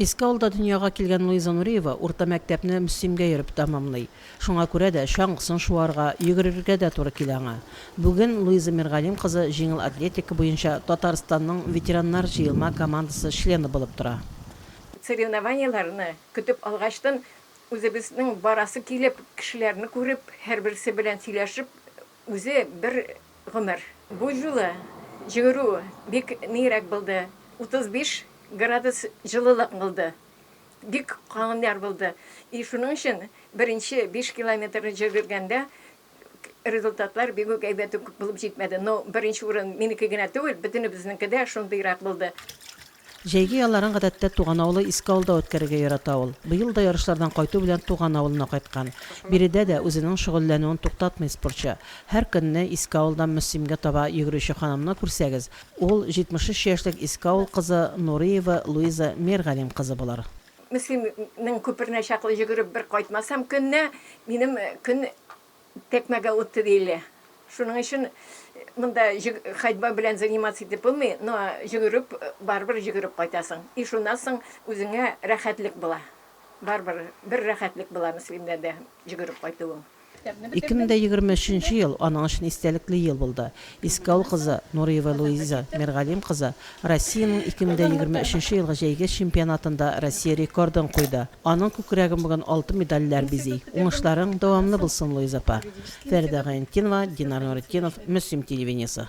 Иске авылда дөньяга килгән Луиза Нуриева урта мәктәпне Мөслимгә йөреп тәмамлый. Шуңа күрә дә чаңгысын шуарга, йөгерергә дә туры килә аңа. Бүген Луиза Миргалим кызы җиңел атлетика буенча Татарстанның ветераннар җыелма командасы члены булып тора. Соревнованиеләрне көтеп алгачтын, үзебезнең барасы килеп, кешеләрне күреп, һәрберсе белән сөйләшеп Үзе бер гомер. Бу юлы йөгерү бик ниерәк булды, 35 градус җылылык булды. Бик калын яр булды. И шуның өчен беренче биш километрны җөгергәндә результатлар бик үк әйбәт үк булып җитмәде. Но беренче урын минеке генә түгел, бөтенебезнеке дә шундыйрак булды. Җәйге ялларын гадәттә туган авылы Иске Авылда үткәрергә ярата ул. Быел да ярышлардан кайту белән туган авылына кайткан. Биредә дә үзенең шөгыльләнүен туктатмый спортчы. Һәр көнне Иске Авылдан Мөслимгә таба йөгерүче ханымны күрсәгез, ул, 73 яшьлек Иске Авыл кызы Нуриева Луиза Миргалим кызы булыр. Мөслимнең күперенә чаклы йөгереп бер кайтмасам көненә, минем көн Текмәгә үтте диелә. Шуның өчен монда ходьба белән заниматься итеп булмый, но йөгереп, барыбер йөгереп кайтасың. И шуннан соң үзеңә рәхәтлек була. Барыбер бер рәхәтлек була Мөслимдә дә йөгереп кайтуың. 2023 ел аның өчен истәлекле ел булды. Искаул кызы Нуриева Луиза Миргалим кызы Россиянең 2023 нче елгы җәйге чемпионатында Россия рекордын куйды. Аның күкрәген бүген алтын медальләр бизи. Уңышларың дәвамлы булсын, Луиза апа! Фәридә Гайнетдинова, Динар Нуретдинов, Мөслим телевидениесе.